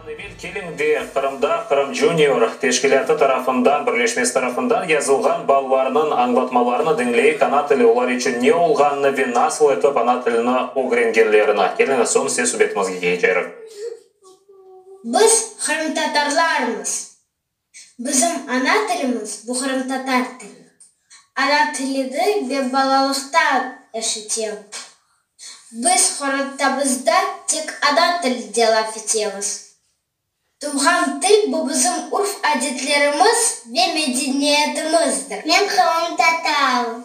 Bundan evel keliñ de Qırımda Qırım Junior teşkilâtı tarafından, birleşmesi tarafından yazılğan balalarnıñ añlatmalarını diñley, ana tili olar içün ne olğanını ve nasıl etip ana tilini ögrengenlerini. Keliñiz, soñ ses subetimizge keçerik. Biz qırımtatarlarmız. Bizim ana tilimiz buhramtatar tili. Ana tilidi ve balalıqtan eşitem. Biz qorantabızda tek ana tilide laf etemiz. Tuvğan til bu bizim urf-adetlerimiz ve medeniyetimizdir. Men qırımtatarım.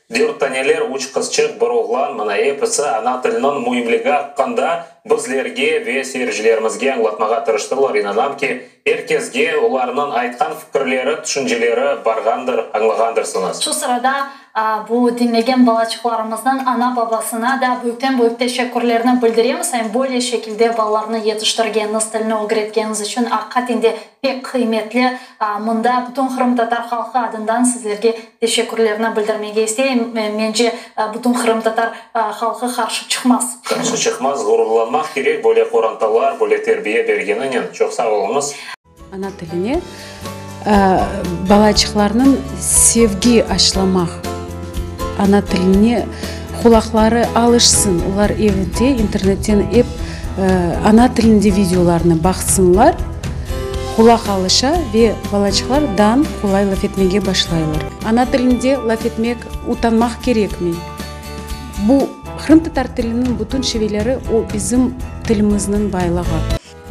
Dört taneler, üç qızçıq, bir oğlan, mına episi ana tiliniñ müimligi aqqında bizlerge ve seyircilerimizge añlatmağa tırıştılar. İnanam ki, er kesge olarnıñ aytqan fikirleri, tüşünceleri barğandır, añlağandırsıñız. Şu sırada bu diñlegen balaçıqlarımıznıñ ana-babasına da büyükten-büyük teşekkürlerni bildiremiz. Em böyle şekilde balalarnı yetiştirgeniñiz, tilini ögretgeniñiz içün, aqiqaten de pek qıymetli. Mında bütün qırımtatar halqı adından sizlerge. Teşekkürlerni bildirmege isteyim. Mence, bütün qırımtatar halqı qarşı çıqmaz. Qarşı çıqmaz, ğururlanmaq kerek böyle qorantalar, böyle terbiye bergeninen. Çoq sağ oluñız. Ana tiline balaçıqlarnıñ sevgi aşlamaq, ana tiline. Qulaqları alışsın, olar evde internetten ep ana tilinde videolarnı baqsınlar, qulaq alışa ve balaçıqlar dan qolay laf etmege başlaylar. Ana tilinde laf etmek utanmaq kerekmi? Bu, qırımtatar tiliniñ bütün şiveleri, o bizim tilimizniñ baylığı.